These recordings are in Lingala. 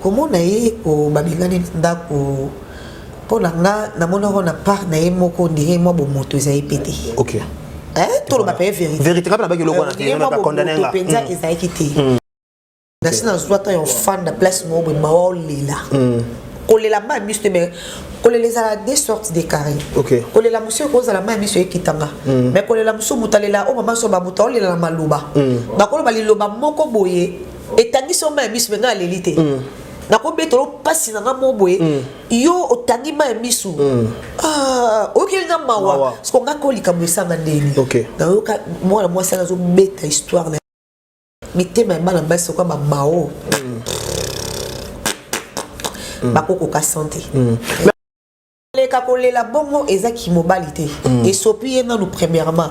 komona ye ko babengani na ndako mpo na nga namonaka na part na ye moko ndenge mwa bomoto eza ye pete okay. eh, toloba mpe verité kaka nabaki eloko wana te mwa bomoto mpenza hmm. ezalaki te hmm. nasi nazwa ntango ya ofanda place moko boye mawa olela hmm. kolela mai miso te mais kolela ezala de sorte de carré okay. kolela mosu ekozala mai miso ekitanga mm. mais kolela mosu moto alela o oh, mama so babuta olela na maloba mm. bakoloba liloba moko boye etangi so mai ya miso me ngai aleli te mm. nakobetolo mpasi na ngai mo boye mm. yo otangi mai ya miso mm. ah, oyokeli nga mawa soko ngai ko likambo esanga ndeni nayoka mwana mwasi ana azobeta histoire na mitema ya bana basi okoya bamao bakokoka sante koleka kolela bongo eza kimobali te esopi ye nanu premièrement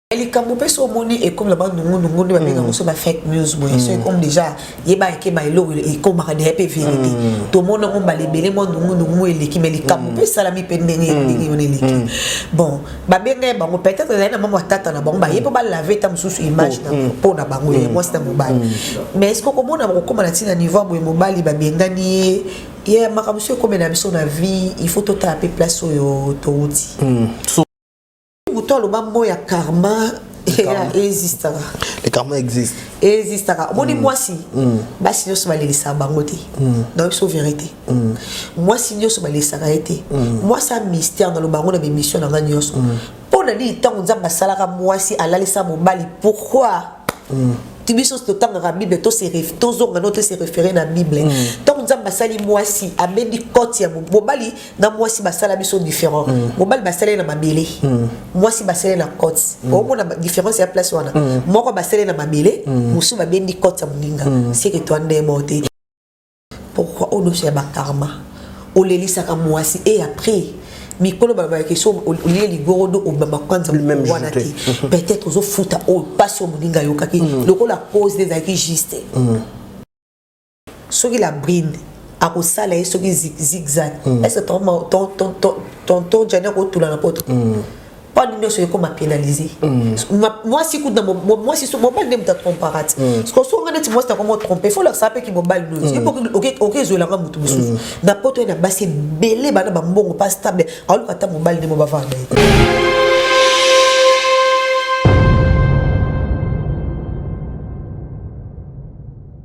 Eh, likambo mpe so omoni ekomi na banungunungu nde babengaka mm. so ba fake news boye so ekomi mm. déjà yebaka ke baeloko ekomaka deya mpe verité mm. tomona ngo mbala ebele mwa nungunungu eleki mai likambo mpe esalami mpe ndenge ndenge wana eleki bon babenga ye bango peut-être ezali na mama ya tata na bango baye mpo balave ta mosusu image oh, mpo na bango ye mwasi na mobali mais eske okomona bakokoma na ntina niveau ya boye mobali babengani ye ye makambo so ekomela biso na vie il faut totala mpe place oyo touti moto aloba mo ya karma ezistaka le karma existe ezistaka omoni mm. mwasi mm. basi nyonso balelisaka bango te mm. donc biso verité mwasi nyonso balelisaka ye te mwasi a mystère naloba yango na bemission na ngai nyonso mpo na nini ntango nzambe asalaka mwasi alalisa mobali pourquoi ti biso totangaka bible tozonga no tose refere na bible ntango nzambe asali mwasi abendi cote ya mobali na mwasi basala biso différent mm. mobali basala ye na mabele mm. mwasi basala ye na cote mm. omona différence ya place wana mm. moko basala ye na mabele mm. mosusu babendi cote ya moninga mm. seke to nde moko te pourquoi odoso ya bakarma olelisaka mwasi e après mikolo balobaki so olie ligorodo obamba kwanza wana te peut-être ozofuta oyo mpasi oyo moninga ayokaki mm. lokola cause ezalaki juste mm. soki la brine akosala ye soki zigzag mm. est ce que tonton jani akotula na poto mm. mpo nini nyonso ekoma pénalise mm. mwasi kutu mwasi so mobali nde moto atrompaka ti siko so nga neti mwasi nakoma otrompe fo lakisa mpe ki mobali nozi oke ezwelanga moto mosusu na poto ye na basi ebele bana bambongo mpa stable aoluka ata mobali nde mo bavanda ye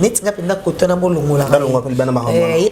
neti nga mpenza kotana bolongolaye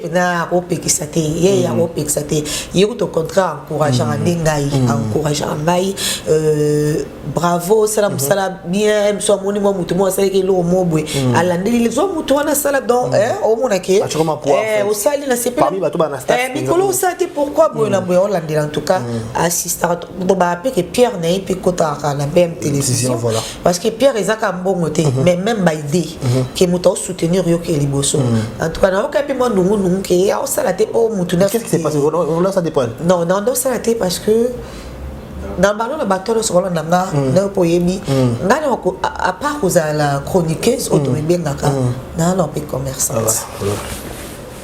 mpenza akopekisa te ye mm. akopekisa te ye kutu au contraire encourageaka mm. nde ngai mm. encourageaka ngai euh, bravo osala mm-hmm. mosala bien biso amoni mwa motu moko asalaki eloko moko boye alandeli lizo motu wana asala don eh, omona ke eh, osali na sepemikolo eh, osala te pourkui boye na boye olandela en tout cas assistaka to baapeke pierre na ye mpe kotakaka na bm télévision parce que pierre eza kaka mbongo te mhm. mais même baide mhm. ke moto aosoutenir yo ke liboso mhm. en tout cas nayoka mpe mwa ndungunungu ke ye aosala te mpo motu non naosala te parce que na bano na bato nyonso balanda nga nayo mpo oyebi ngai na apart kozala chroniqueuse oyo tomibengaka naa na mpe commerçante ah,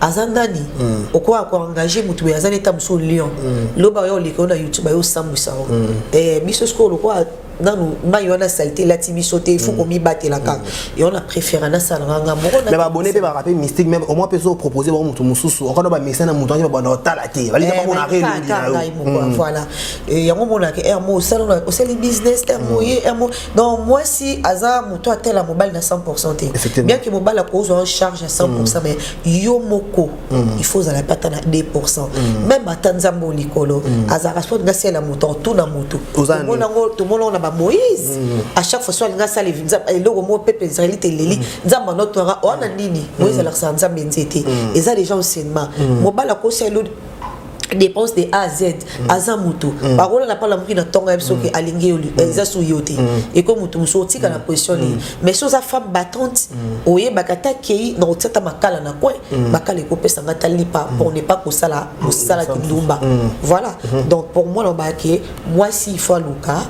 aza nani mm. okoya koengage motu boye aza neta mosusu lion mm. loba oya oleka yo na youtube ayo osambwisa yango mm. eh, biso sikoyo lokola nanu mai wana salite elati biso te ifo komibatela kaka yango na préféra nasalanga nga moko mais babone mpe baka mpe mystique meme omoi mpe ezopropose bango motu mosusu okana bamesana motu ange babanda otala te balisa bamona reelongi na yo voilà yango omonaka r mo osali business r mo ye r mo donc mwasi aza moto atela mobali na 100 te bien ke mobali akozwa en charge ya 100 mm. mais yo moko mm. il faut ozala mpe ata na 2 mm. meme ata nzambe o likolo azalaka so alinga asala moto to na moto tomonango na bamoïse à chaque fois so alinga asala eloko moko mpe mpe israeli te eleli nzambe anotoyaka oana nini moïse alakisaka nzambe nzete eza déjà enseignement mobali akosala dépense de A à Z mm. aza mutu mm. bakola na pala muki na tonga biso mm. ke alingi yo eh, eza su yo te mm. eko mutu musu otika mm. na pression mm. mais so za femme battante mm. oye bakata kei na otata makala na kwe mm. makala eko pesa ngata lipa mm. pour ne pas ko sala ko sala kindumba mm. voilà mm. donc pour moi lobake moi si il faut luka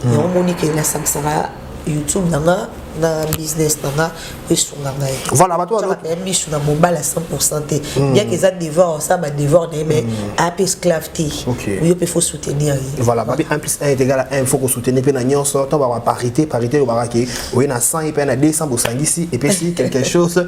mm. yango moni ke na sangsanga youtube na nga na business na nga esunga ngai voilà bato wana ya misu na mobala 100% te hmm. bien que eza devoir ça ba devoir na ye mais hmm. ape esclave te yo pe faut soutenir ye voilà ba 1 plus 1 est égal à 1 faut ko soutenir pe na nyonso to ba parité parité yo baraki oye na 100 et pe na 200 bosangisi et pe si quelque chose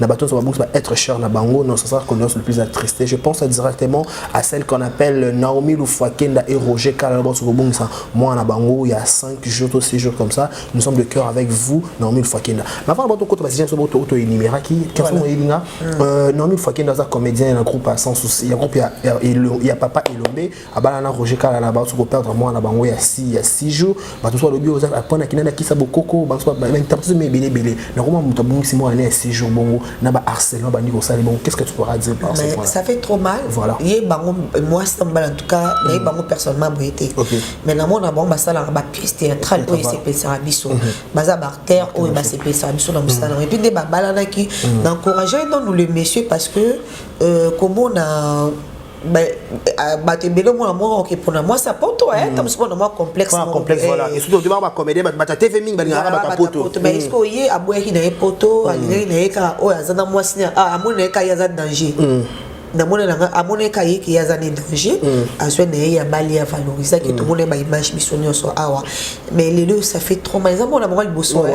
na bato nyonso babungisi ba être cher na bango non sasar condoléance le plus attristé je pense directement à celle qu'on appelle Naomi Lufwakenda et Roger Kala bato kobungisa mwana na bango ya 5 jours to 6 jours comme ça nous sommes de cœur avec vous Naomi Lufwakenda mais avant bato kota basija biso bato oto enumeraki kasi mo elinga Naomi Lufwakenda aza comédien na groupe à sans souci ya groupe ya ya papa Elombe abala na roger kala na baosi koperdre mwana na bango ya si ya six jours bato mosusu balobi oza apona kina na kisa bokoko bainterprétation mi ebele ebele nakoma moto abongisi mwana na ya six jours bongo na ba harcèlement bandi kosala bongo qu'est-ce que tu pourras dire par rapport ça fait trop mal voilà ye bango mwasi na mobali en tout cas na ye mm. bango personnellement boye te mais na mona bango basalaka ba pièce théâtrale oyo esepelisaka biso mm-hmm. baza baacteur oyo basepelisaka biso na mosala mm. epuis nde babalanaki mm. na encourage nanu le monsieur parce que euh, komona bato ebele omona moko oke mpona mwasi ya poto ta mosuku na mwa complexecomédien bato bata tv mingi balingaka bato ya poto mais eske oye aboyaki na ye poto alingaki na ye kaka oyo aza na mwasi amoni na ye kaka ye aza danger namonelanga amoni eka ye ke aza na danger azwi na ye ya bali ya valoriser ke tomoni ba image biso nyonso awa mais lelo ça fait trop mal eza mwana moko liboso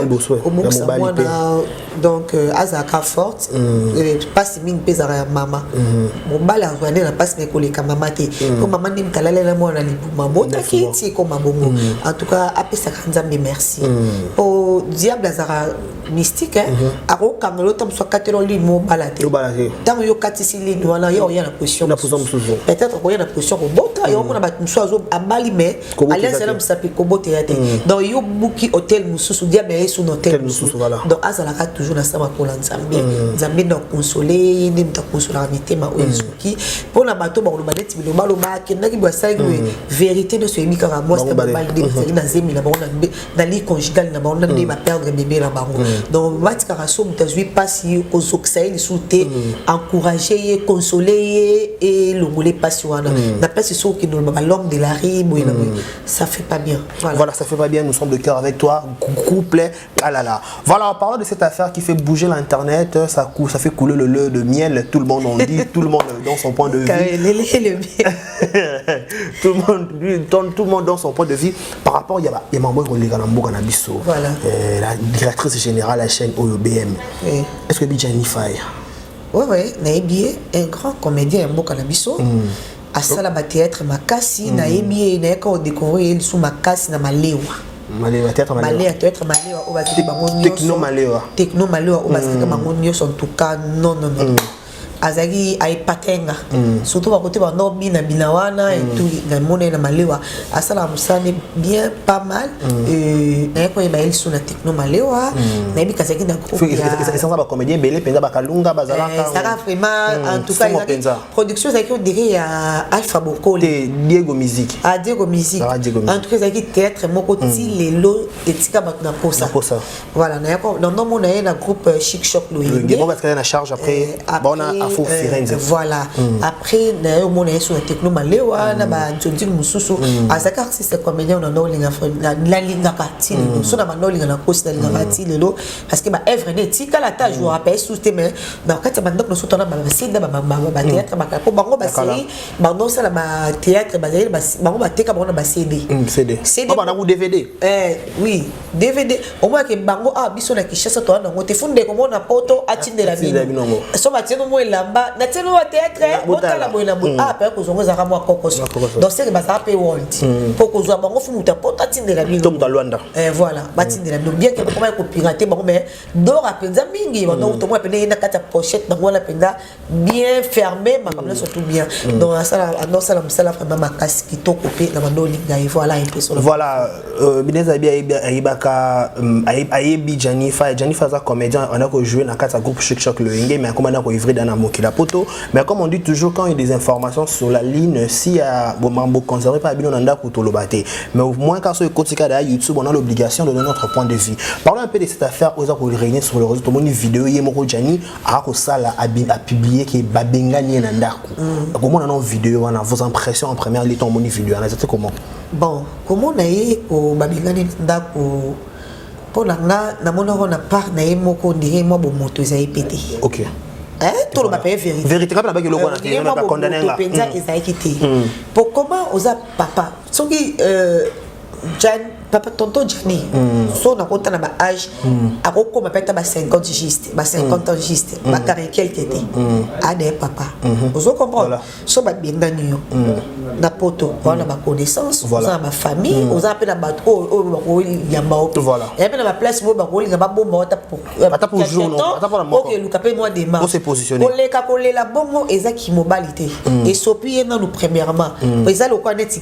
obokisa mwana donc euh, azalaka forte mpasi mm. euh, mingi mpe ezalaka ya mama mm. mobali azwa nde na mpasi me koleka mama te mm. mpo mama nde mitalale na mwana na libuma botaki eti ekoma bongo en tout cas apesaka nzambe merci mpo diable azalaka mystique mm-hmm. akokanga yo ntango mosu akatela ligne mobala te ntango yo okatisi ligne wana yo oya na position peut-être okoya na position kobota yo omona bato mosusu abali mais alliance na musapi kobota ya te mm. donc yo buki hotel mususu diable ya yesu na hotel mususu donc azalaka toujours na sama kola nzambe mm. nzambe na konsole ye nde moto akonsolaka mitema oyo mm. esuki mpo na bato bakoloba neti bilobaloba akendaki basalaki boye verité nyonso eyebi kaka mwasi na mobali nde ezalaki na zemi na bango na ligue conjugale na bango nde baperdre bebe na bango donc batikaka so moto azwi mpasi kozokisa ye lisusu te encourage ye console ye elongole mpasi wana na place soki okende oloba balome de la ri boye na boye ça fait pas bien voilà. voilà ça fait pas bien nous sommes de cœur avec toi couple alala voilà en parlant de cette affaire qui fait bouger l'internet ça, cou ça fait couler le lait de miel tout le monde en dit tout le monde dans son point de vue tout le monde tout le monde dans son point de vue par rapport ya ya mambo ekoleka na mboka na biso voilà. euh, la directrice générale ya chaîne oyo bm oui. est ce que bijani fire oui, oui, nayebi ye un grand comédien ya mboka na biso mm. asala batheatre makasi mm. nayebi ye nayaka odécouvrir ye lisu makasi na malewa malewa theatre malewa malewa theatre malewa oyo bazali bango nyonso techno malewa techno malewa oyo bazali bango nyonso en tout cas non non non mm. azalaki aepatenga mm. surtout bakote bando bina bina wana mm. etu namona ye na malewa asalaka mosala nde bien pas mal mm. euh, naye koyeba ye lisu na techno malewa mm. nayebi kasi azalaki na groupesanga bacomédien ebele mpenza bakalunga bazalakaezalaka eh, vraiment mm. en tout cas ezalaki production ezalaki odire ya alpha bokoli diego musique ah diego musique en tout cas ezalaki théâtre moko ti mm. lelo etika bato na posa Voilà, na yako dans nos mona na groupe euh, Chic Shop Loyenge. Ngebo parce qu'elle na charge après euh, bah, bon à Faux euh, Firenze. Voilà. Mm. Après na yo mona sur techno malewa mm. na ba ntondil mususu mm. azaka si c'est comédien na no linga na la linga partie mm. so na ba no linga na kosi na linga partie lelo parce que ba œuvre ne tika la ta jour après sous te mais na kati ba ndok no so tona ba sida ba ba ba théâtre ba ko bango ba série ba no sala ba théâtre ba ba bango ba teka ba na ba CD. CD. CD. Ba na ku DVD. Eh oui. dvd omona ke bango awa ah, biso na kinshasa toa nango te fu ndeko mona poto atindela bino so batieno mwa elamba na tieno wa teatre botala boye na boye apa yako zongo ezalaka mwa kokoso donc seke bazala mpe wonti mpo mm. kozwa bango fu moto ya poto atindela bino tomuta lwanda eh, voilà batindela bino bien ke bakomaki kopirate bango mais dora mpenza mingi mm. bandokutomona mpe ndenge na kati ya pochette bango wana mpenza bien fermé makambo mm. nyonso tout bien mm. donc anosala mosala vraiment makasi kitoko mpe na bando olinga ye voilà epeso voilà euh, binez abi ayebaka mm, ayebi janifa janifa aza comédien wana kojoue na kati ya groupe chic choc loyenge mais akoma na koivre da na mokili ya poto mais comme on dit toujours quand il y a des informations sur la ligne si ya bomambo conservé mpe abino na ndako toloba te mais au moins car soki ekotika da ya youtube on a l'obligation de donner notre point de vue parlons un peu de cette affaire oza koreunir sur le réseau tomoni video ye moko jani akosala apublie ke babengani ye na ndako mm. akomona nao video wana vos impression en première lieu tomoni video wana eza te comment bon komona ye babengani na ndako mpo na nga namonako na part na ye moko ndenge mwa bomoto eza ye pete okay. Eh, toloba mpe vérité kape nabaki eloko wanapenza ezalaki te mpo koma oza papa soki euh, Jan, papa tonton Jani mm. so nakota na ba âge mm. akokoma mpe ata ba 50 juste ba 50 mm. ans juste mm. bakare quelque te mm. ade papa mm -hmm. ozo comprendre voilà. so babengani yo mm. na poto mm. wana ba connaissance voilà. oza na ba famille mm. oza mpe na bato oyo oyo bakoyamba yo voilà. ya mpe na ba place oyo bakolinga babomba yo ata pour jour okeluka mpe mwa dema koleka kolela bongo eza kimobali te mm. esopi ye nanu premièrement mm. eza lokola neti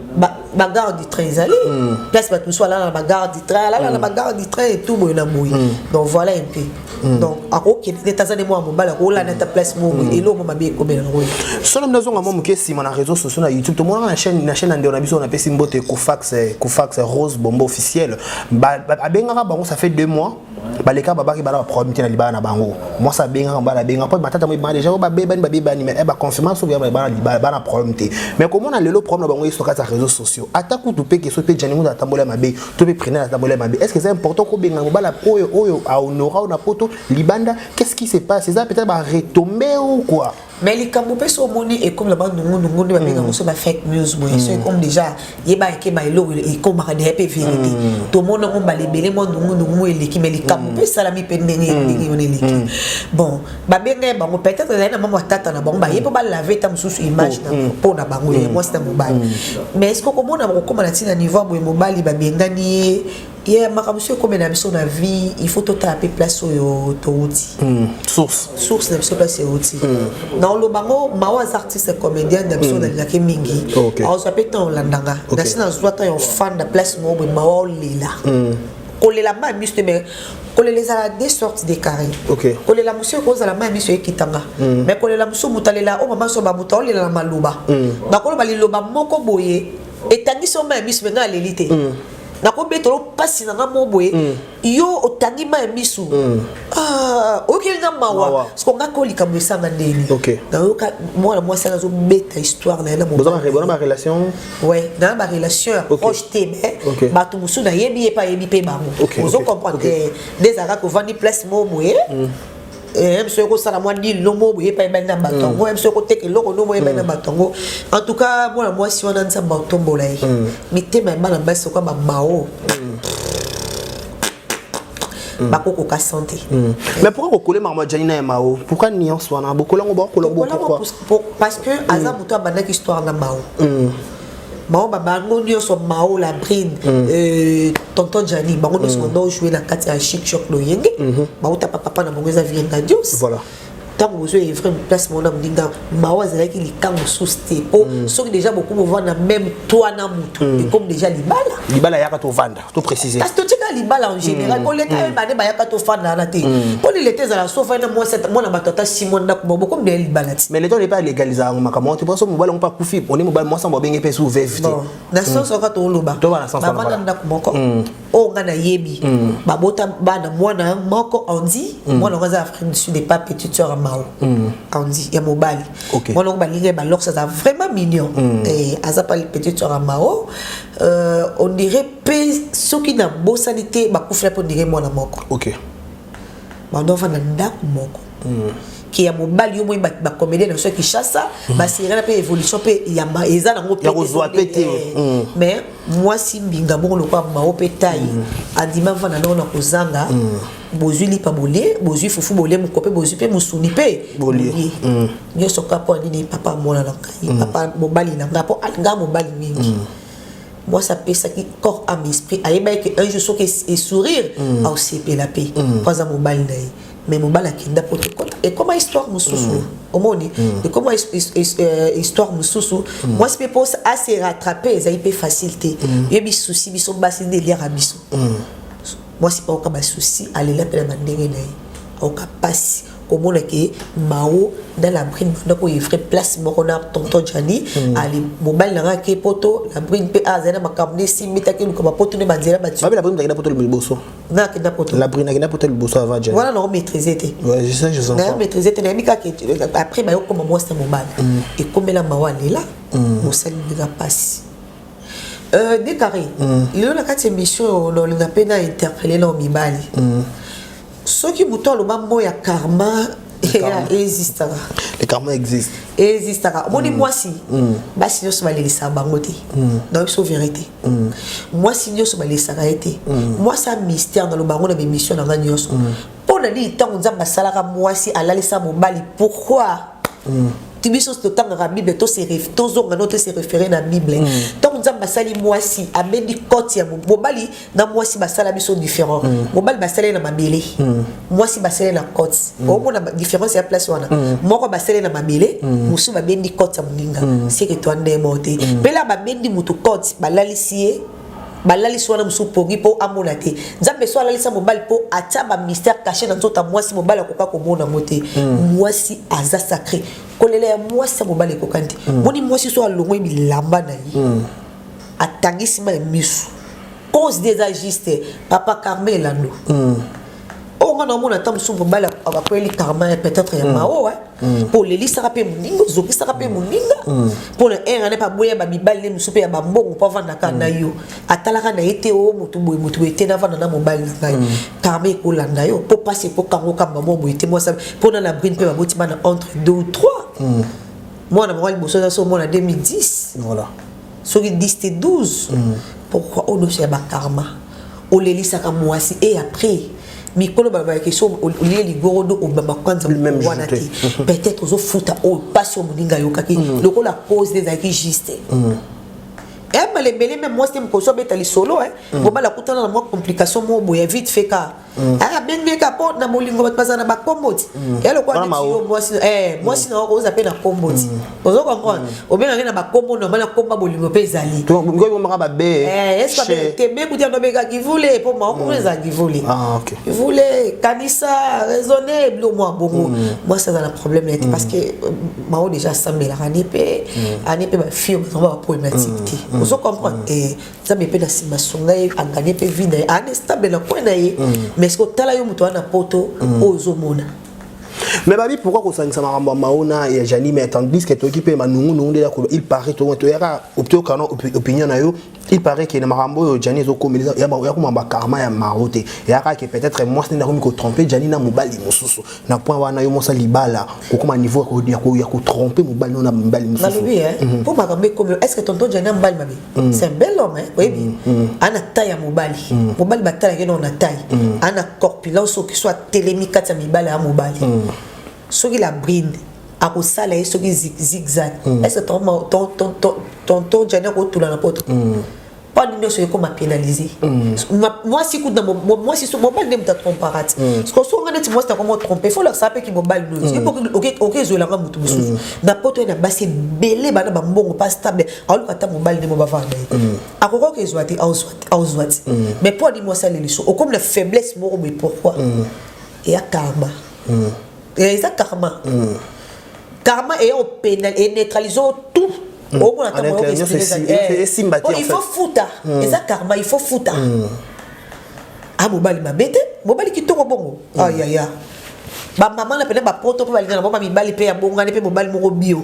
bagarre du train ezali hmm. place bato mosusu alala na bagarre du train alala na hmm. bagarre du train etou boye na boye hmm. donc voilà un peu donc akokende neti aza nde mwana mobali akolanda ata place moko eloko mo mabe ekomela yango solo mbi nazonga mwa moke nsima na réseau sociaux na youtube tomonaka na chaîne na chaîne ya ndeo na biso napesi mbote kofax kofax rose bombo officiel abengaka bango ça fait deux mois baleka babaki bana baproblème te na libala na bango mwasi abengaka mobali abengaka mpo matata moyebana deja oyo babebani babebani mais eh, baconfirma soki bana problème te mais komona lelo problème na bango yesu kati ya réseau sociaux ata kutu mpe keso mpe jani mutu atambola ya mabe to mpe prenel atambola ya mabe est ce que eza important kobenga mobala oyo oyo ahonora oyo na poto libanda qu'est ce qui se passe eza peut-être baretombé ou quoi mais likambo mpe so omoni ekomi na banungunungu nde babenga yango so ba fake news boye so ekomi déjà yeba eke ba eloko ekomaka deja mpe verité tomoni yango mbala ebele mwa nungunungu mo eleki mais likambo mpe esalami mpe ndenge ndenge wana eleki bon babenga ye bango peut-être ezali na mama tata na bango baye mpo balave ta mosusu image na mpo na bango ya mwasi na mobali mais est ce que okomona bakokoma na ntina niveau ya boye mobali babengani ye ye yeah, makambo soki ekomela biso na vie il faut totala mpe place oyo touti mm. source source na biso place euti mm. na oloba ngo mawa aza artiste comédienne na biso mm. nalingaki mingi okay. aozwa mpe ntango olandanga okay. nasi nazwa ntango ya ofanda place moko boye mawa olela mm. kolela mai miso te mais kolela ezala deux sortes de carré okay. kolela mosu oyo kozala mai miso ekitanga mm. mais kolela mosu moto alela oyo mama so bamoto aolela na maloba mm. bakoloba liloba moko boye etangisi yo mai miso me ngai aleli te mm. nakobetela mpasi na nga mo boye mm. yo otangi ma ya misu mm. ah, oyokeli nga mawa soko nga ko likambo esanga ndeni nayoka mwana mwasi ana azobeta histoire na ye na barelation we na barelation ya proche te me bato mosusu nayebi ye mpe ayebi mpe bango ozo comprendre nde ezalaka kovandi place mo boye mm. eh, biso ekosala mwa dil no mo boye epai ebali na bato yango mm. eh, biso ekoteka eloko no mo ebali na mm. bato yango en tout cas mwana mwasi wana nzambe aotombola ye mm. mitema ya bana basi oka bamao Mm. bakokoka sante mm. mais pourquoi kokole makambo ya janina ya mao pourquoi nuance wana bokola yango bakokola bo pourquoi parce que aza moto abandaki histoire na mao baoba bango nyonso mao la brine mm. euh, tonton jani bango nyonso mm. bandoo joue na kati ya chic choc loyenge mm -hmm. baotapa papa na bango eza vienga dios voilà. ntango bozwa evre place mona moninga mao azalaki likambo mosusu te mpo mm. soki deja bokomi ovanda meme toi na motu mm. ekomi deja libala libala yaka tovanda to préciser kasi totika libala en général mpo leta ye bane bayaka tofanda wana te mpo ni leta ezala sofa ye na mwasi ata- mwana bato ata simo ndako moko bokomi naye libala ti mais leta oyo epa legaliza yango makambo wana te mpo so mobali yango mpe akufi oni mobali mwasi yango babenge mpe su veve te Bon, na sens oyo kaka toloba To bana sens wana, bavanda voilà. ndako moko oyo ngai nayebi babota bana mwana moko andi mwana yango aza afrique du sud epa petite sœur ya mao andi ya mobali Ok. mwana yango balingi ye balox aza vraiment mignon Eh, aza pa petite sœur ya mao euh, on dirait mpe soki nabosani te bakufela mpe on dirait mwana moko ok bando afanda ndako moko mm. ke ya mobali yo moi bacomédien na biso ya kinshasa mm. baserana mpe évolution mpe yamba eza nango pekozwa mpe te eh. mm. mais mwasi mbinga moko lokola mao mpe tai mm. andima afanda ndoko na kozanga mm. bozwi lipa bolie bozwi fufu bolie mokope bozwi mpe mosuni mpe bolie mm. nyonso kaka mpo nini papa amona na ngai mm. papa mobali na ngai mpo alingaa mobali mingi mm. mwasi apesaki corps ame esprit ayebaki ke un jour soki esourire aosepela mpe mpo aza mobali na ye mais mobali akenda mpo ekoma histoire mosusu omoni ekoma histoire mosusu mwasi mpe mpo ase rattrape ezali mpe facile te yebi souci biso basi nde eliaka biso mwasi aoka basusi alela mpe na bandenge na ye aoka mpasi komona ke mao na la brine banda koyevre place moko na tonton jani hmm. ali mobali na ngai ake poto la brine mpe azali na makambo nde esimbi taki luka bapoto nde banzela batiakenda poto liboso nakenda poto la brine akenda poto liboso avant jani wana nao maîtrise te nayo maîtrise te nayebi kaka après bayokoma mwasi na mobali hmm. ekomela mawa lela mosali hmm. mbika mpasi Euh, dekare mm. lelo na kati émission oyo naolinga mpe na interpele nao mibali mm. soki moto aloba mot ya karma existaka le karma existe existaka omoni mm. mwasi mm. basi nyonso balelisaka bango te mm. na biso verité mwasi nyonso balelisaka ye te mwasi a mystère naloba yango na bémission na ngai nyonso mpo na nini ntango nzambe asalaka mwasi alalisa mobali pourquoi mm. ti biso totangaka bible tozonga no tose refere na bible ntango mm. nzambe asali mwasi abendi kote ya mobali na mwasi basala biso différent mm. mobali basali na mabele mm. mwasi basali na kote mm. omona différence ya place wana mm. moko basali na mabele mm. mosusu babendi kote ya moninga mm. seke twa ndemo te mm. mpela babendi motu kote balalisi ye balalisi wana mosusu pongi mpo amona te nzambe so alalisa mobali mpo atya bamystère caché na nzoto ya mwasi mobali akoka komona yango te hmm. mwasi aza sacré kolela ya mwasi ya mobali ekokani te hmm. moni mwasi so alongoi bilamba na ye hmm. atangisi mai misu cause de eza juste papa carme elando oyo nga naomona ata mosusu mobali abakweli karma ya peut-être ya mm. mao mm. mpo olelisaka mpe moninga ozokisaka mpe mm. moninga mpo na ere ane mpe aboya bamibali ne mosusu mpe ya bambongo mpo avandaka na yo atalaka na ye te o oh, motu boye motu boye te navanda na mobali na ngai karma ekolanda yo mpo mpasi ekokango kamba mwa boye te mwasa mpo na na brine mpe baboti bana entre deux ou trois mwana moko liboso aza so omona 2010 voilà soki 10 te 12 mm. pourquoi odosi ya bakarma olelisaka mwasi e après mikolo balobaki so olie ligoro do obamba kwanza wana te peut-être ozofuta oyo mpasi oyo moninga ayokaki mm. lokola cause nde ezalaki juste mm. ebale eh, ebele meme mwasi te mokosi abeta lisolo eh. mm. bobala kutana na mwa complication moko boye vite fait ka Mm. Ah, abengi ye kaka mpo na bolingo bato bazala na bakombo ti mm. ya lokola neti yo mwasi eh, mwasi na oko oza mpe na kombo ti mm. ozo comprendre obengaki na bakombo normal na komba bolingo mpe ezali omaka babe eh, ese kebe kuti yango obeka kivule mpo maoko kuna ezala kivule ah, kivule kanisa raisonne bilo mwa bongo mwasi aza na problème ya te parce que euh, mao déjà asambelaka ane mpe ane mpe bafille bazango baproblématique te ozo comprendre eh, nzambe mpe na nsima asunga ye aganye mpe vi na ye aana estable na kwe na ye mm. mais soki otala yo moto wana poto mm. oyo ozomona mais babi pourquoi kosangisa makambo ya maona ya jani mais tandis que toyoki mpe manungunungu nde yakolo il paraît toyaka toyokana opinion na yo il paraît ke na makambo oyo jani ezokomelisa yakoma bakarma ya maro te eyaka ke peut-être mwasi nde akomi kotrompe jani na mobali mosusu na point wana yo mosa libala kokoma niveau ya kotrompe mobali no na mobali mosusu nalobi mpo makambo ekomelo est ce que tonton jani na mobali mabe Mm. c'est un bel homme hein, oyebi mm, mm. ana taille ya mobali mobali batalaki nao na taille ana corpulence soki so atelemi kati ya mibale ya mobali soki la brine akosala ye soki zigzag est-ce que tonton jani akotula na poto mpo nini nyonso ekoma pénalise mwasi kutu mwasi so mobali nde moto atrompaka ti siko so nga neti mwasi nakoma trompe fo lakisaka mpe ki mobali noyo okezuelanga moto mosusu na poto ye na basi ebele bana bambongo mpa stable aoluka ata mobali nde bobavanda ye akokoka kezwa te aozwa te mais mpo adimi asali liso okomi na faiblesse moko boye pourquoi eya karma eza karma karma eya opena eneutralise tout omona il faut futa eza karma il faut futa a ah, mobali mabe te mobali kitoko bongo ayaya bamama na pena bapoto mpe balingana bango bamibali mpe ya bongani mpe mobali moko bio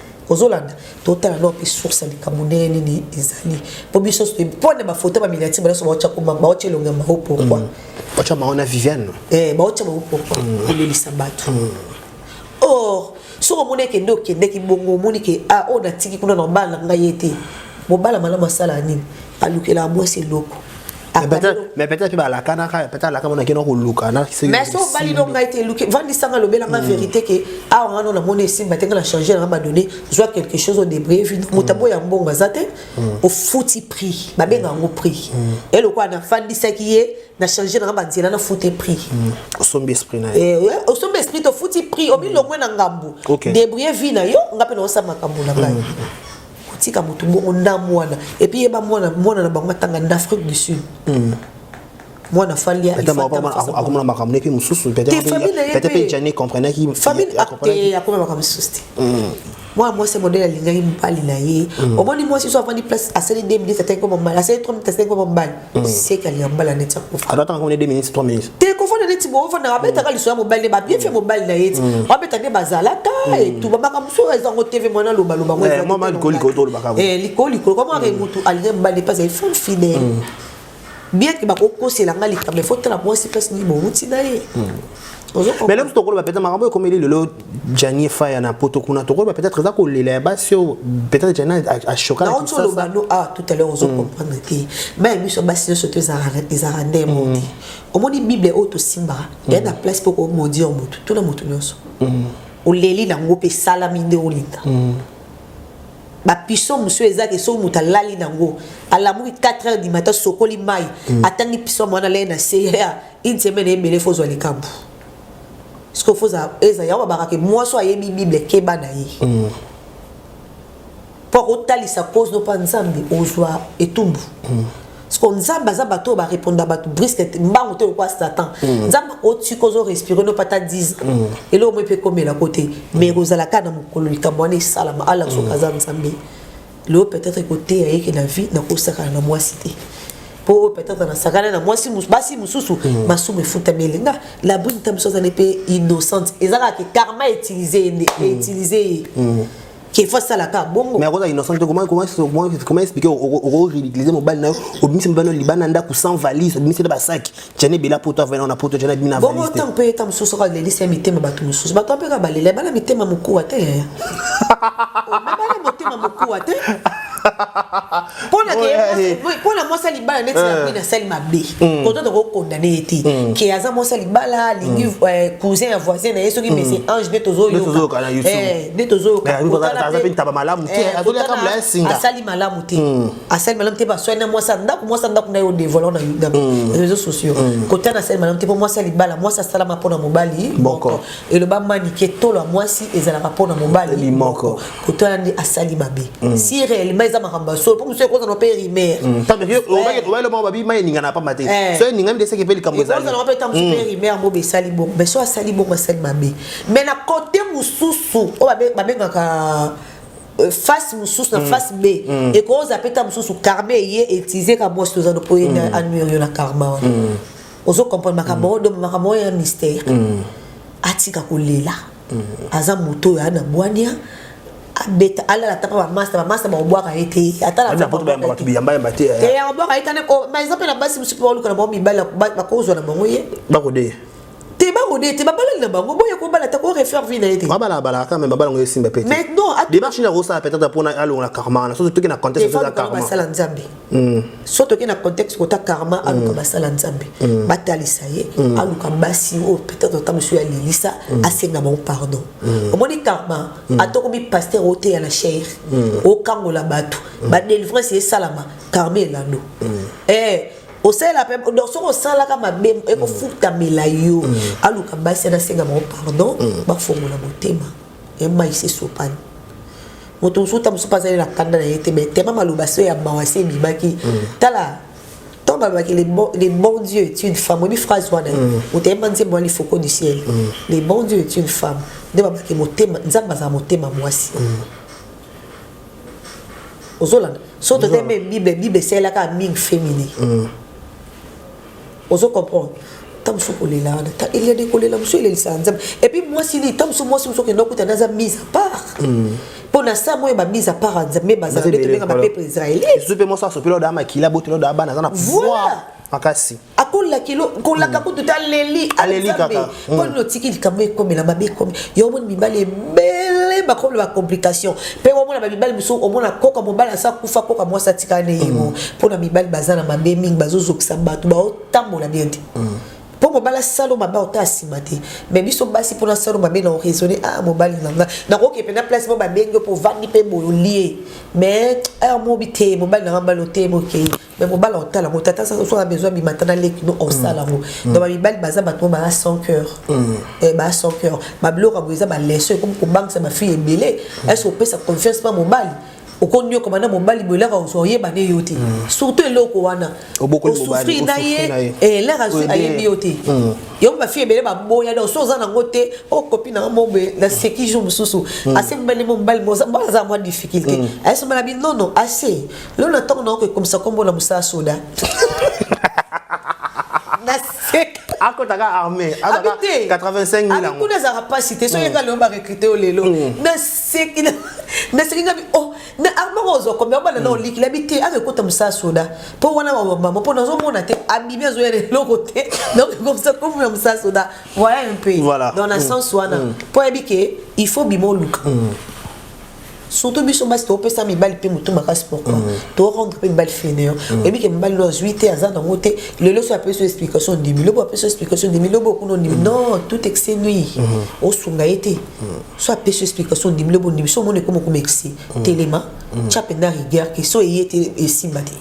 ozolanda totala nao mpe source ya likambo ndenge nini ezali mpo biso mpo na bafoto ya baminiatire banso baotya koma baotya elongo ya mao pourkui mm. baotya mao na viviane eh, baotya mao pourkui mm. kolelisa bato mm. or soki omoni eke nde okendeki bongo omoni ke a ah, oyo natiki kuna na obala na ngai ye te mobala malamu asala nini alukelaka mwasi eloko mais peut-être mpe balakanaka peut-être alaka mona kena koluka mais so obali no ngai te eluki vandisanga lobela nga hmm. vérité ke awa nga no namoni esimba te nga na change nanga badonne zwa quelque chose odebreye vino moto hmm. aboya mbongo aza te hmm. ofuti prix babenga yango prix elokola nafandisaki ye na change nanga banzela nafute prix osombi esprit na ye eh, osombi esprit tofuti prix omilongwe na ngambu debreye vie na yo nga mpe naosala makambo na ngai kotika motu bongo nda mwana epuis yeba mwana mwana na bango atanga na afrique du sud mm. mwana fali akomona makambo nepe mosusu petepe jani comprenaki akoma makambo mosusu te mwana mwasi modele alingaki mobali na ye omoni mwasi so avandi place asali 2 minutes ataki koma mobali asali 3 minutes asali koma mobali Mm. seka liyambala neti akufa alataka ngo ne 2 minutes 3 minutes te kofanda neti boofandaka abetaka liso ya mobali nde babie fe mobali na ye ti mm. abeta nde bazalaka mm. etuba makambo so eza ngo tv mwana alobaloba ngo eh, mama likolo likolo tolobaka ngo eh, likolo likolo kama ake motu alingi mobali mpasi ye femme fidèle bien ke bakokosela ngai likambo efo tala mwasi mpasi nini bowuti na ye mais lelo tokoloba peut-être makambo oyo ekomeli lelo jani efaya na poto kuna tokoloba peut-être eza kolela ya basi oyo peut-être jani ashoka na kinsa oloba no ah tout à l'heure ozo mm. comprendre te ba biso basi nyonso to ezalaka nde mm. mondi omoni bible oyo tosimbaka mm. ya na place mpo komondir motu tuna motu nyonso oleli nango mpe esalami nde olinga bapiso mosusu eza te soki moto alali nango alamuki 4 heures du matin sokoli mai atangi piso mwana lei na se Une semaine ebele faut zwa likambu. Ce qu'il faut eza yawa bakake mwaso ayebi Bible keba na ye. Mm. Mpo akotalisa cause no mpa Nzambe ozwa etumbu. Mm. Siko Nzambe aza bato oyo bareponda bato briske te mbangu te lokola Satan. Mm. Nzambe akotika ozo respire no pata 10 ans. Mm. Eloko moko mpe ekomela ko te. Mais ekozala kaka na mokolo likambo wana esalama ala soki aza Nzambe. Mm. leo peut-être ekoteya ye ke na vie nakosakana na mwasi te mpo peut-être nasakana na mwasi basi mosusu mm. masumu efutami elinga labrine ta mosusu azali mpe innocente eza kaka ke karma utilise ye nde mm. utilise ye mm. kefa asalaka bongo mais akozala innocent te comment expliquer okoridiclise mobali na yo obimisi mobali na yo libanda ndako sans valise obimisi na basaki jani bela poto avanda na poto jani bina bongo ntango mpe eta mosusu oka lelisa ya mitema bato mosusu bato mpe kaka balela bana mitema mokuwa te yaya bana motema mokuwa te mpo na mwasi ya libala neti na bwina asali mabe koto tokokondane ye te ke aza mwasi ya libala alingi cousin ya voisin na ye soki mese ange nde tozoyoka nde tozoyokaasali malamu te asali malamu te baswani na mwasi ya ndako mwasi ya ndako na ye odevola na mm. réseau sociaux mm. kotana asali malamu te mpo mwasi ya libala mwasi asalama mpo na mobali moko eloba manike tolo ya mwasi ezalaka mpo na mobali moko kotana nde asali mabe mm. si réellement eza makambo ya solo mpo mosusu ekozana mpe rimer obayelomoko babi mai eningana ya pamba te eh. so eningani nde eseki mpe likambo ezaliozanaka mpe ntango mpe rimer yango besali bongo mais so asali bongo asali mabe mais na kote mosusu oyo babengaka Euh, face mosusu na mm. face b mm. ekoza mpe ta mosusu karma eye etize ka mwasi toza na oye mm. anuire yo na karma wana ozo comprendre makambo yango donc makambo oyo ya mystère atika kolela aza moto oyo aa na bwania abeta alala ata mpa bamasta bamasta bakobwaka ye te atalabwaka ye tane par exemple na basi mosusu mpe baluka na bango mibali bakozwa na bango ye bakodeya te babode te babalani na bango boye kobala te korefaire vie na ye te babala babala kaka me babala yango esimba pe te démarche nini akosala peut-être mpo alongola karma wana soki toki na contexte eza karma basala nzambe hmm. so toki na contexte kota karma hmm. aluka basala nzambe hmm. batalisa ye aluka basi oyo peut-être ata mosusu ya lelisa asenga bango pardon omoni karma ata okomi paster oteya na chaire okangola bato badelivrance esalama karma elando eh, osalela pe donc soki osalaka mabe ekofutamela mm. yo mm. aluka basi anasenga bango pardon mm. bafongola motema emaise sopani moto mosusu ta mosusu mpe azali na kanda na ye te mai tema maloba so ya mawa se ebimaki tala ntango balobaki le bon dieu est une femme oyebi phrase wana oteyemba nzembo wana lifoko du ciel le bon dieu est une femme nde babaki motema nzambe azala motema mwasi ozolanda so tote mpe bible bible esalelaka mingi femini mm. ozo comprendre ta mosusu kolela wana ta eliade kolela mosusu elelisaka nzambe epuis mwasi nini ta mosusu mwasi mosusu okenda okutana aza mise a part mm. mpo na saa moyo bamise a part ya nzambe bazala nde tobenga bapeple israelite esusu mpe mwasi asopeli odaa makila boteli odaa bana aza na pouvoir makasi akola kilo kolaka kutu te aleli aleli kaka mpo nini otiki likambo ekomela mabe ekomi yo omoni mibali ebele bakomi na bacomplication mpe omona bamibali mosusu omona koka mobali asa kufa koka mwasi atikala na yemo mpo na mibali baza na mabe mingi bazozokisa bato baotambola bien te mpo mobali asalo mabe ota nsima te mais biso basi mpona salo mabe na oraisonne a mobali na nga nakoki mpena place mo babengi yo mpo ovandi mpe boyolie mais heure mobi te mobali na nga mbalo te mokei mais mobala otala yango tata soki aza besoin abima ata na leki no osala yango mm. donc bamibali baza bato oyo baa sans cœur mm. eh, baa sans cœur babiloko yango eza baleso ekomi kobangisa bafille ebele mm. ese opesa confiance mpa mobali okonyokoma na mobali boye elaka ozwa oyeba ne yo te surtout eloko wana osufri na ye elaka azwi ayebi yo te yango bafille ebele baboya donc so oza nango te okopi oh, nanga mobe na seki jour mosusu asembalimo mobali moaza mwa difficulté ayesombala binono ase Lelo na ntango na oko ekomisa nkombo na mosala soda. Naseka. akotaka armée akotaka Abite. 85 000 Abi yango kuna ezalaka mpasi te soki nga lelo barekrite yo lelo naseki na- naseki ngabi o na armaka ozwa kombe obana na oliki labi te aka ekota mosala soda mpo wana bamama mpo nazomona te abimi azoya na eloko te donc ekomisa kombo ya mosala soda voilà un peu Voilà. dans na Mm. sens wana mpo ayebi ke il faut bima oluka surtout biso basi topesa mibali mpe motu makasi pourquoi mm. to rendre mpe mibali fainéant mm. oyebi ke mibali no azwi te aza nango te lelo so apesi yo explication ndimi lobo apesi yo explication ndimi lobo okuna ondimi mm. non tout excès nui mm-hmm. osunga ye te so apesi yo explication ndimi lobo ondimi so omoni ekoma okoma excès telema tya mpenza rigueur ke so eye te esimba te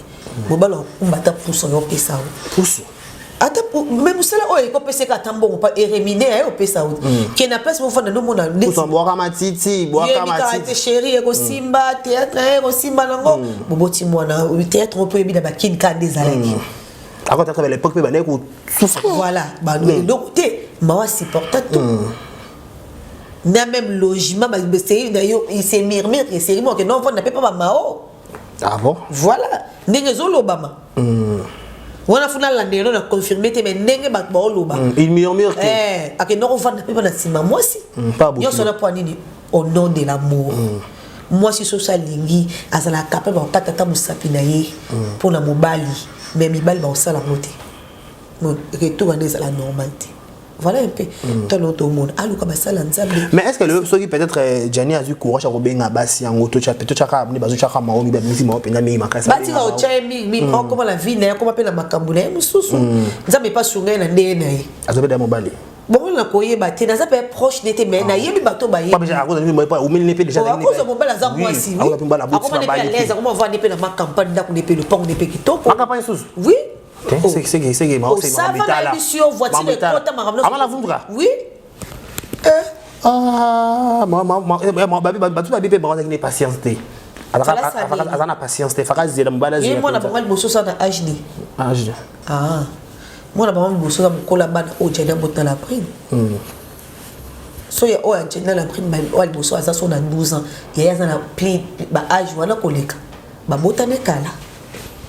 mobali akumba ata puso yo opesa yo puso ata me mosala oyo eko pesa ata mbongo pa eremine aye opesa yo mm. ke na place mofanda nomona bwaka matiti bwaka te sheri ekosimba mm. théâtre eh, ekosimba nango mm. boboti mwana théâtre oyo mpo oyebi na bakini kaka nde ezalaki akotaka ba l'époque mpe bandaki kosouffrir voilà donc te mawa supporta tout na même logement basei na yo se murmure eseri moke non mpo na mpe mpo bamao ah bon voilà ndenge ezolobama mm. wana fo nalanda yango na confirme te mai ndenge bato baoloba mm. il murmure que eh, akenda kovanda mpe bana nsima mwasi mm, nyonso na mpo nini au nom de l'amour mm. mwasi soso alingi azalaka capable bakokata ata mosapi na ye mm. mpo na mobali mai mibali bakosala yango te retour wana ezala normal te voilà un peu mm. tala oyo tomona aluka basala nzambe mais est ce que lelo soki peut-être euh, jani azwi courage ya kobenga basi yango totyaka bni bazotyaka mao mibi bamisi mao mpenza mingi makasi batika otya ye mingi mingi akoma na vie na ye akoma mpe na makambo na ye mosusu nzambe epa sunga ye na ndenge na ye aza mpe da mobali bongo na koyeba te naza mpe proche ne te mai nayebi bato bayebiakozwa mobali aza mwasi akomani mpe alaise akomavandi mpe na makampani ndako ne mpe lopango ne mpe kitoko oui bato babi mpe bango azalaki ne patience te aza na patience te faka zela mobali azmona bango liboso sa na hd hd ah. mwana bango liboso na mokola bana oyo jani abota na prime hmm. so ya oyo ajenda na prime oyo liboso aza so na 12 ans yaya aza na pli baage wana koleka babotami kala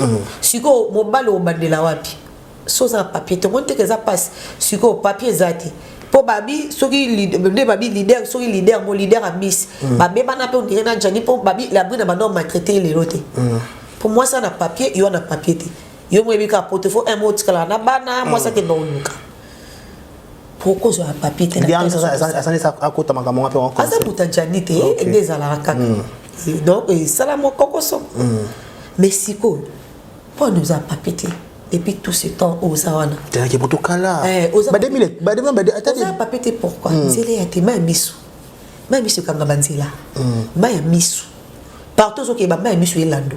mm. sikoyo mobali obandela wapi so oza na papier tomoni teke eza mpasi sikoyo papier eza te mpo babi soki nde babi leader soki leader mo leader abisi mm. babebana mpe ondire na jani mpo babi labri na bando maltraite ye lelo te mm. mpo mwasi ana papier yo ana papier te yo moyebi kaka poto fo un mot otikalaka na bana mwasi akenda oluka pourquoi ozwa na papier te dianasasa akota makambo nga mpe aza kuta jani te nde ezalaka kaka hmm. eh, donc esala eh, mwa kokoso hmm. mais sikoyo mpo wana oza papier te depuis tout ce temps oza wana teyaki kutu kala eh, oza papier te pourquoi hmm. nzela ya te mai miso mai miso ekanga banzela mai ya miso partout ozokeba mai ya miso elando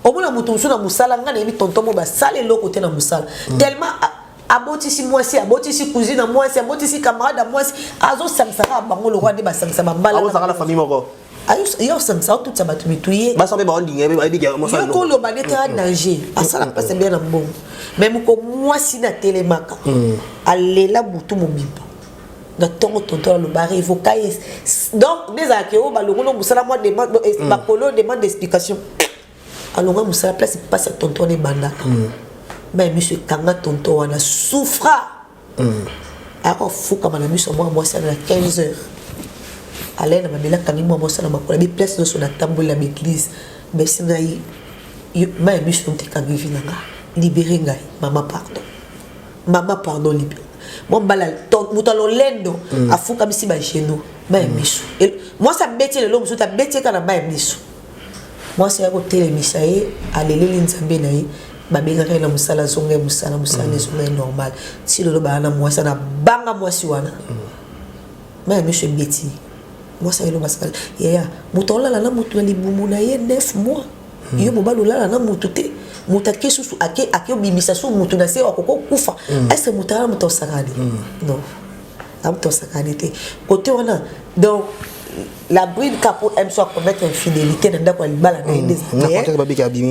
omona moto mosusu na mosala ngai nayebi tonton mo basala eloko te na mosala tellement abotisi mwasi abotisi cousine ya mwasi abotisi camarade ya mwasi azosangisa kaka bango lokola nde basangisa babalaaozaka na famille moko yo osangisa otutisa bato mitu ye basa mpe baondingayeyoka oloba nde kaka danger asala mpasi bien na mbongo mai moko mwasi na telemaka hmm. alela butu mobimba na ntongo tonto aloba revoka ye donc nde ezalaka yo balongono mosala mwa bakolo demande d'explication alonga musala place pasi ya tonton wana ebandaka mm. mai miso etanga tonton wana soufra mm. ayaka ofukama na miso ya mwana mwasi ana na 15 heures alaye na mabele akangi mwana mwasi na makolo abi place nyonso natamboli na baeglise basi ngai mai ya miso ntekangi vi na nga libere ngai mama pardon mama pardon libere mombala moto ya lolendo mm. afukamisi bageno mai ya mm. miso mwasi abeti lelo mosusu abeti eka na mai ya miso Mwasi aya kotelemisa ye, aleleli Nzambe na ye, babengaka ye na mosala, azonga ye mosala, mosala mm. ezonga ye normal. Ti lelo baa na mwasi ana banga mwasi wana. Mm. Mai ya miso ebeti. Mwasi ayelo basaka, yaya, moto olala na moto na libumu na ye 9 mois. Mm. Yo mobali olala na moto te. moto ake susu ake ake obimisa susu moto na se akoko kufa mm. est ce que moto aya moto osakani mm. non amtosakani te kote wana donc la bride ka mpo m so acommettre infidélité na ndako ya libala na ye nde ezalate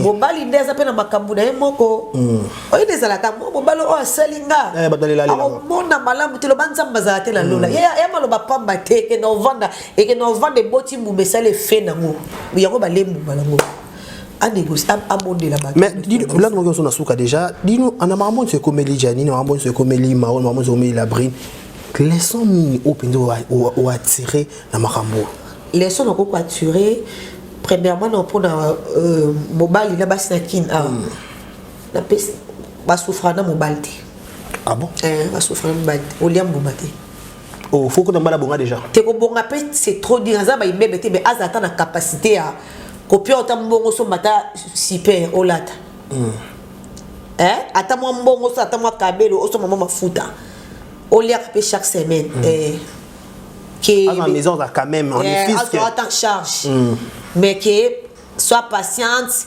mobali nde aza mpe na makambo na ye moko mm. oyo nde ezalaka mo mobali oyo asali nga eh, akomona malamu te loba nzambe azala te na lola mm. ya maloba pamba te ekenda ovanda ekenda ovanda eboti mbuma esali efe nango yango balembu malango mais lani moki ozo na suka déjà dino ana makambo nyonso ekomeli janine makambo nyonso ekomeli maron makambo nyonso ekomeli labrine leson nini oyo mpenza oattire na makambo oyo leson nakoki koattire premièrement na mpo na euh, mobali na basi na kin awa ah. basouffra na mobali te ah bon eh, basouffra na mobali te olia mbuma te Oh, faut que nambala bonga déjà. Te ko bonga pe c'est trop dire aza ba imebe te mais aza ata na capacité ya ko pia ota mbongo so mata super olata. Mm. Eh, ata mwa mbongo so ata mwa kabelo oso mama mafuta. Olia pe chaque semaine. Mm. Eh. Que à la maison ça quand même on est fils. Azo ata charge. Mm. Mais que sois patiente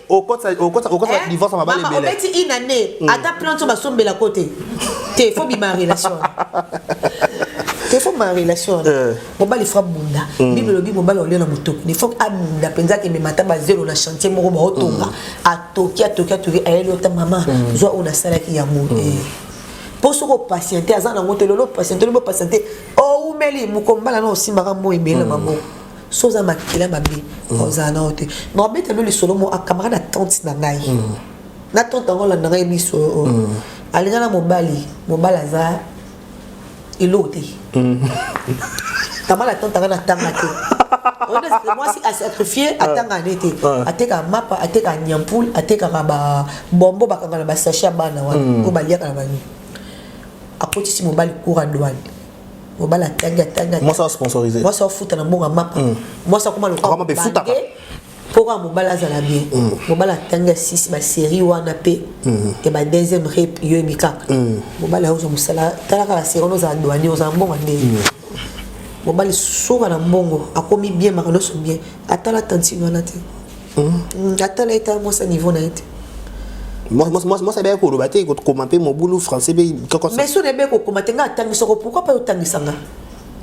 okotisa okotisa okotisa Eh, divorce ya mabali mama, ebele obeti une année ata plante oyo basombela ko te te fo bima relation te fo bima relation wana Eh. mobali fo abunda bible elobi mobali olio na motoki ne fo abunda mpenza akemema ata bazelo na chantier moko baotonga atoki atoki atoki ayeli ota mama zwa oyo nasalaki yango Eh. mpo soki opatiente aza nango te lelo opatiente lobi opatiente oumeli mokombala na osimbaka moi ebele na maboko so oza makila mabe mm. ozala nao te na obeta no lisolo mo akamaka na tante na ngai mm. na tante yango olanda ngai miso oyo oh, oh. mm. alinga na mobali mobali aza eloko te kama na tante ngai natanga te mwasi asacrifie atanga ne te atekaka mapa atekaka nyampule atekaka babombo bakanga na basache ya bana wana oyo baliaka na banini akotisi mobali cour ya douane mobali atanga tanga mwasi a sponsoriser mwasi afuta na mbongo ya mapa mm. mwasi akoma lokola bange mpo kaka mobali azala bien mm. mobali atanga sisi baserie wana mpe mm. ya ba deuxième rep yoyebi kaka mobali ayozwa mosala tala kaka serie wana ozala douanier ozala mbongo ya ndenge mobali soka na mbongo akomi bien makambo nyonso bien atala tantine wana te hmm? atala ye ta mwasi ya niveau na ye te mwasi abeya koloba te kokoma mpe mobulu français mpe mais so nayebi kokoma te ngai atangi soko pourkui mpe otangisa nga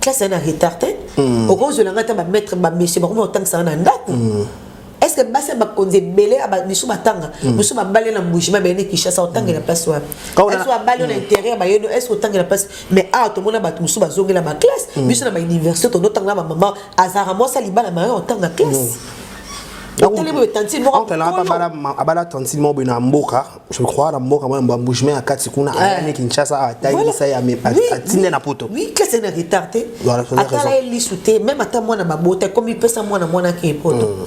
classe aye na retard te hmm. okozwela ngai ta bamaitre bamessie bakomi otangisa nga na ndako hmm. est ce que basi ya bakonzi ebele misu batanga misu babali na mbujima baye ne kinshasa otangela place wapi est babali yo na intérieur baye no est ce otangela place mais awa tomona bato mosusu bazongela baklasse biso na bauniversité tondotanga na bamama azalaka mwasi alibala maye otanga classe oncle nanga abala tantine moko boye na mboka je crois na mboka mwa yamba bougement ya kati kuna eh. ayami kinshasa atangisa ye atinde na poto kasi na retard te atala ye lisu te meme ata mwana babota ekomi pesa mwana mwana ke poto hmm.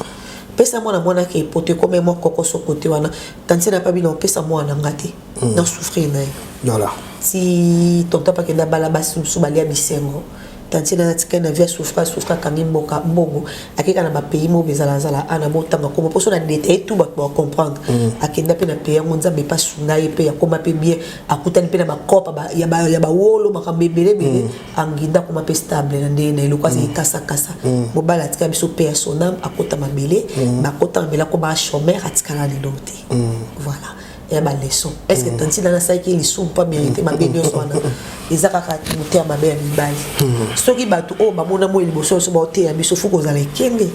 pesa mwana mwana ke poto ekomi mwa kokoso kote wana tantine apabi na opesa mwana nga te mm. na souffrir na ye voilà ti tonton pake na bala basi mosusu balia bisengo tantine natikali na vie ya souffra souffra akangi mboka mbongo akeka na bapays moko ezalazala ana botanga koma mposo na detaille tout bato bacomprendre mm. akenda mpe na pays yango nzambe mpe asunga ye mpe akoma mpe bien akutani mpe na bakopa ya bawolo makambo ebelebele mm. anginda akoma mpe stable na ndenge na eloko azali mm. kasakasa mobali atikala biso mpe ya sonam akota mabele bakota mabele akoma chomere atikala lelo te voilà ya ba leçon est ce que mm. tanti nana asalaki lisumu mpo abele te mabe nyonso wana eza kaka moteya mabe ya mibali mm. soki bato oyo bamona moi liboso nyonso baoteya biso fo kozala ekenge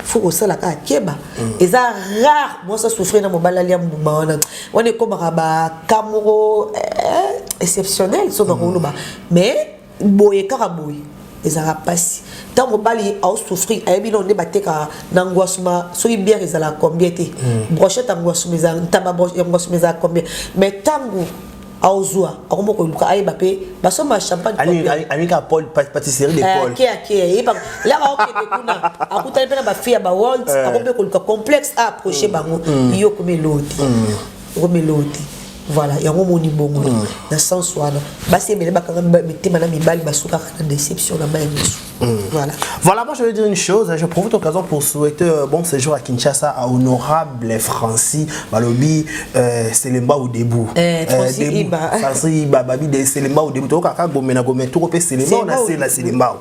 fo kosala kaka keba mm. eza rare mwasi asouffrir na mobali alia mbuma wana wana ekomaka baka moko eh, exceptionnel soki akoloba mais boye kaka boye ezalaka mpasi ntango mobali aosouffrir ayebi nao nde bateka na ngwasuma soki biere ezala combien te hmm. brochette ya ngwasuma ezala ntaba ya ngwasuma ezala combien mais ntango aozwa akomi koluka ayeba mpe basomba champagneamika paul patisserie de eh, paul ke ake yeba laka okende kuna akutani mpe na bafille ya bawalt eh. akomi mpe koluka complexe a approche hmm. bango hmm. yo okomi eloo te okomela oyo te voilà yango omoni bongo mm. na sens wana basi ebele bakanga mitema na mibali basukaka na déception na mai misu mm. Voilà. voilà, moi je vais dire une chose, je profite l'occasion pour souhaiter euh, bon séjour à Kinshasa à honorable Francis Balobi euh, Selemba ou Debout. Eh, Francis euh, Iba. Francis Iba, Babi de Selemba ou Debout. Toka ka gomena gomena, tout kopé Selemba, on a Selemba.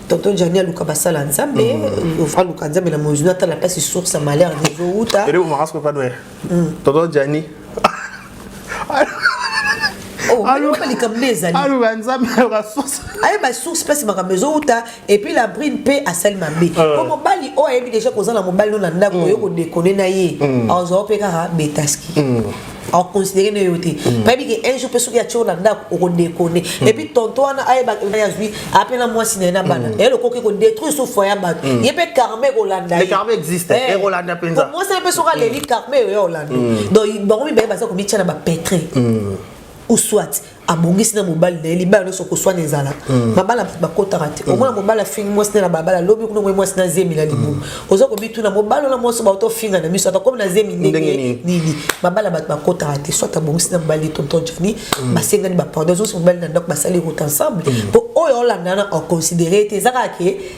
tonton jani aluka basala ya nzambe mm. aluka nzambe na mozu natala mpasi source ya malheur ezowuta tonton jani Oh, aluka likambo nde ezali aluka nzambe aluka source ayeba source place makambo ezowuta epuis la brine mpe asali mabe po euh. mobali oyo ayebi deja kozala mobali no na ndako mm. oyo kodekone na ye mm. azwa mpe kaka betaski mm. akoconsidere nde yo te hmm. bayebi ke un jour mpe soki atio na ndako okodekone hmm. epuis tonto wana ayeba azwi ape na mwasi na ye na bana hmm. eyelo koki kodétruire so foye ya bato ye mpe karma ekolanda ye eh. mwasi na mpe soki aleli karma eyo ya olanda donc bango mibale baza komitya na bapetre ou soit abongisi na mobali na ye libala nyonso koswana ezala hmm. mabala bato bakotaka te hmm. omona mobali afingi mwasi na na balabala lobi kuna omoi mwasi na zemi na libumu hmm. oza kobituna mobali wana mwasi bato ofinga na miso atakomi na zemi ndenge nini mabala bato bakotaka te soit abongisi na mobali tonton jani basengani bapardon ezongisi mobali na ndako basali route ensemble mpo oyo olandana oconsidere te eza kaka ke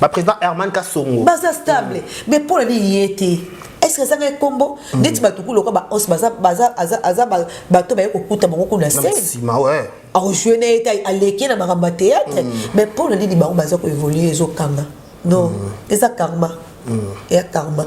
ba président Herman Kasongo baza stable mm. mais pour les yete est-ce que ça est combo mm. neti ba tukulu ko ba os baza baza aza aza ba ba to ba ko kuta bango kuna scène si ma ouais a rejouer na eta a leke na ba théâtre mm. mais pour les bango baza ko évoluer zo kanga non mm. eza karma mm. ya karma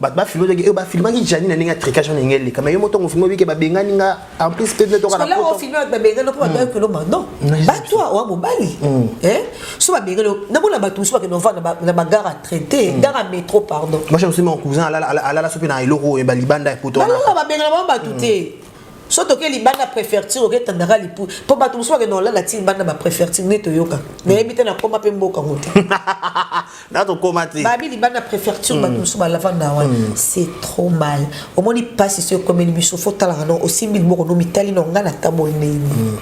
bato bafilmaki oyo bafilmaki jani na ndenge ya tricage wana ndenge eleka mai yo motongo filme obike babengani nga en plus peut être okana poto filme bato babengani mpo bato ayokelo mano bato oa mobali so babengani na mona bato mosusu bakende ovanda na bagare a traité mm. gare a métro pardon moi je me suis mon cousin alala so mpe na eloko oyo ba libanda ya poto wana balala babengana bango bato mm. te so toke libanda préfecture oke tandaka lipu mpo bato mosusu bakende olala ti libanda ba préfecture nde toyoka nayebi te nakoma mpe mboka ngo te na tokoma te babi libanda préfecture bato mosusu balavanda wana c'est trop mal omoni mpasi so ekomeli biso fo talaka no osimbi liboko no mitali no ngai natamboli ndenge nini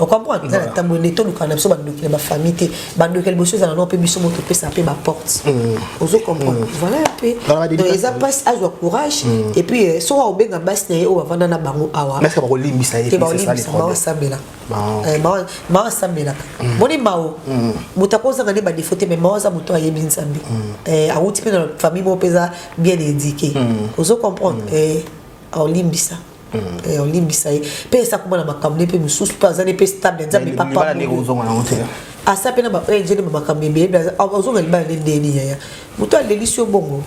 okomprendre eza natamboli nde tolukaka na biso bandoki na bafamille te bandoki ya liboso ezala no mpe biso moto topesa mpe baporte ozo comprendre voilà mpe eza mpasi azwa courage epuis soki aobenga basi na ye oyo bavanda na bango awa te baolimbisa baosambela Eh, mawa mawa asambelaka mm. moni mao mm. moto akozanga nde badefo te mai mawa aza moto ayebi nzambe mm. eh, awuti mpe na famille moko mpeza bien édike ozo comprendre eh, aolimbisa olimbisa ye mpe esakoma na makambo ne mpe mosusu mpe aza ne mpe stable nzambe papa asapena ba ejene eh, ba makambo ebele ozonga libala nde ndeni yaya moto alelisi yo bongo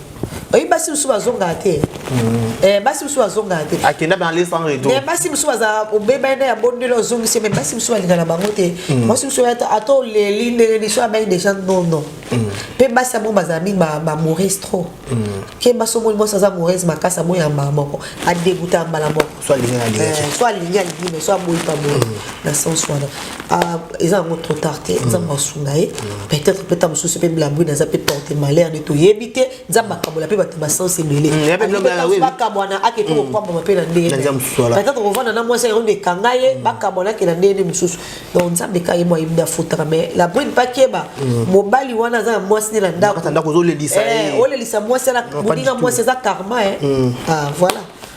oyebi basi mosusu bazongaka te mm. eh, basi mosusu bazongaka te akenda na le sans retour basi mosusu baza obebani na ya bondeli ozongisi me basi mosusu balinga na bango te mm. basi mosusu ata oleli ndenge liso abai deja nono mpe mm. basi yango bazala mingi bamorise trop ke basi omoni mwasi aza morise makasi amoyamba moko adebuta mbala moko so alingi alingi eh, so alingi alingi mais so aboyi pa boyi mm. na sens wana ah, eza yango trop tard te mm. nzambe asunga ye mm. peut-être mpe ntango mosusu mpe blabri naza mpe porte malheur nde toyebi te nzambe akabola mpe bato basense ebele bakabwana ake mpe kopambama mpe na ndenge peut-être kovanda na mwasi yango nde ekanga ye bakabwana ake na ndenge mosusu donc nzambe ka ye mwa yebida afutaka mais labri mpe akeba mobali wana aza na mwasi nde na ndako olelisa eh, mwasi moninga mwasi eza karma eh. ah, voilà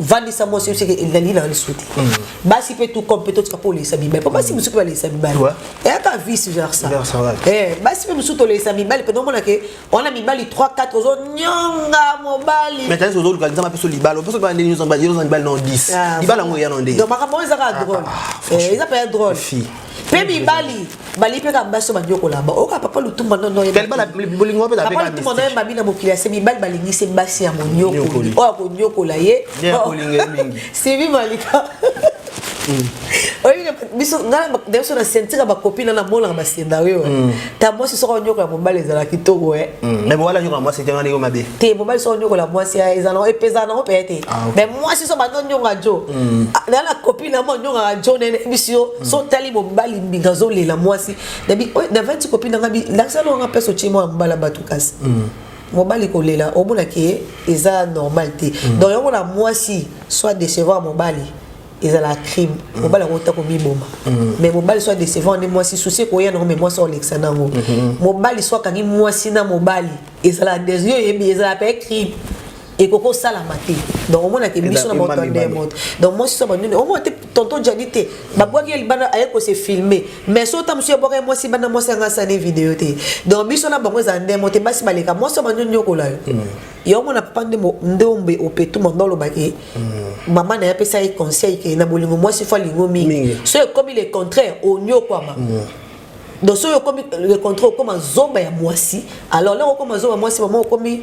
vandisa mwasi oseke elali na lisu te mm. basi mpe tout comme mpe totika mpo oleisa mibali mpo basi mosusu mpe baleisa mibali eyaka vice versa eh, basi mpe mosusu toleisa mibali mpe nomona ke wana mibali 3 4 ozonyonga mobali ozoluka nzambe mpe so libala mpe soki bandeni nyonso mibali nyonso mibali na 10 ah, libala yango eya na nde makambo oyo ezaka ah, drole ah, eh, eza mpe ya drole mpe mibali bali mpe kaka basi oyo banyokolaka bango oyoka papa lutumba nonoyepapa lutumba noye mabi na mokili ase mibali balingi se basi ya monyokoli oyo akonyokola ye sivi malika oyebika biso ngai na biso na sentika bakopi na namonaka bascenario mm. ta mwasi soko onyokola mobali ezala kitoko e me mobali anyokola mwasi te ngani yo mabe te mobali soko onyokola mwasi ezala epezala nango mpenza te me mwasi so bando onyonga jo na na kopi na mo onyongaka jo nene biso Mm. so tali mobali mbinga azolela mwasi navandi kopi nanga nasala wanga mpe sotie mwa mbala bato kasi mm. mobali kolela omonaki ye eza normal te mm. donc yango na mwasi soit décevant mobali ezala crime mobali yango ota komiboma mais mobali soit décevant nde mwasi susi ekoya nango mais mwasi olekisa nango mobali soit akangi mwasi na mobali ezala desio yebi ezala mpe crime ekoki osalama te donc omona te biso na moto nde moto donc mwasi so banduni omona te tonton jadi te babwaki ye libanda aye kose filme mais so ta mosusu ebwaka ye mwasi banda mwasi anga asani video te donc biso na bango ezala nde moto basi baleka mwasi so banduni nyokola yo mm. yo omona papa nde nde ombe opetu mondo olobaki mm. mama na ye apesa ye conseil ke na bolingo mwasi fo alingo mingi so ekomi le contraire onyokwama mm. donc soki okomi le contraire okoma zoba ya mwasi alors loko okoma zoba ya mwasi mama okomi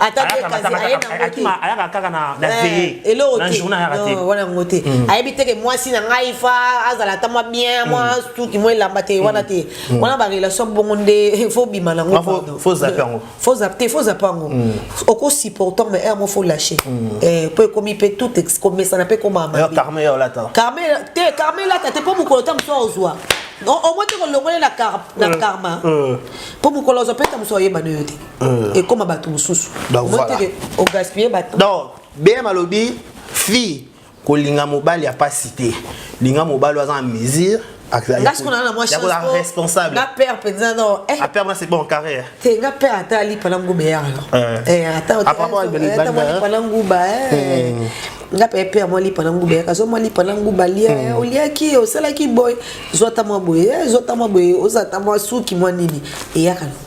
ayaka kaka na eh, veye na journa ayaka te wana yango te mm. ayebi teke mwasi na ngai fa azala ata mwa bien mm. mwa suki mwa elamba te wana te mm. wana barelation bongo nde fo bima na ngofo zape yango fo zape te fo zape yango oko supportant mais yango fo lâche eh, po ekomi mpe tout komesana mpe komama carme elata carme te carme elata te mpo mokolo ta mosu ozwa omoi te kolongole na karma mpo mokolo ozwa mpe ta mosu oyebana yo te euh. ekoma bato mosusu ogaspille bato donc bm alobi fille kolinga mobali ya mpasi te linga mobali oyo aza na mesure responsable nga père mpenza no eh. apère nga c'est bon carrière te nga père ata alipa na nguba ya alipa na nguba nga mpe père mwa lipa na nguba yaka zwa mwa lipa na nguba lia hmm. oliaki osalaki boye zwa ta mwa boye eh, zwa ta mwa boye ozala ta mwa suki mwa nini eyaka na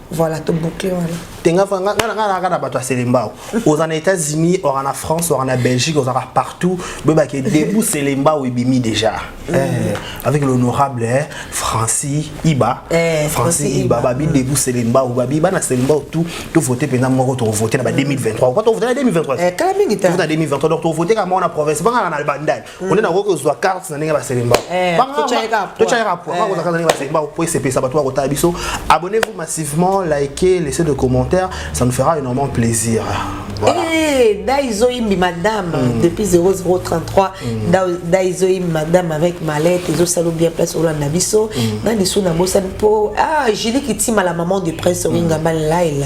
Voilà, to boucler wana. Tenga fa nga nga nga na bato ya Selembao. Oza na États-Unis, oza na France, oza na Belgique, oza ka partout. Beba ke debout Selembao ebimi déjà. Mm. Eh, avec l'honorable eh, Francis Iba. Eh, Francis Iba, Iba. babi mm. debout Selembao, babi bana Selembao tout tout voter pendant moko to voter na ba 2023. Quand on voter na 2023. Eh, kala mingi ta. Voter na 2023 donc to voter kama na province banga na bandal. mm. onde nakoki kozwa carte na ndenge ya baselemba eh, totyaka poids kozwa carte na ndenge ya baselemba mpo esepelisa bato bakotala biso abonnez-vous massivement likez laissez de commentaires ça nous fera énormément plaisir voilà. hey, eh, daizoyimbi madame mm. depuis 0033 mm. daizoyimbi madame avec malette ezosalo bien place olanda biso mm. na lisu na bosani mpo ah, julie kitima la maman de prince mm. owingambani laila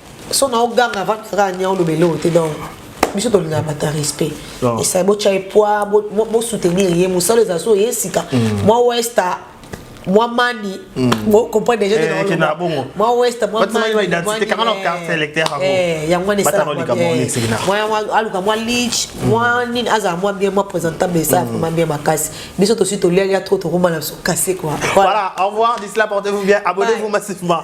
so na oganga va kaka nya oloba eloko te donc biso tolingaka bato ya respect esai botya ye poa bosoutenir ye mosala ezala so ye sika mm. mwa westa mwa mani bocomprendre mm. déjà mwa westa mwa yango wana esalamwayaluka mwa lich mwa nini azala mwa bien mwa présentable esala mm. vraiment bien makasi biso tosi tolialia trop tokoma na biso kase quoi voilà au revoir d'ici là portez vous bien abonnez vous massivement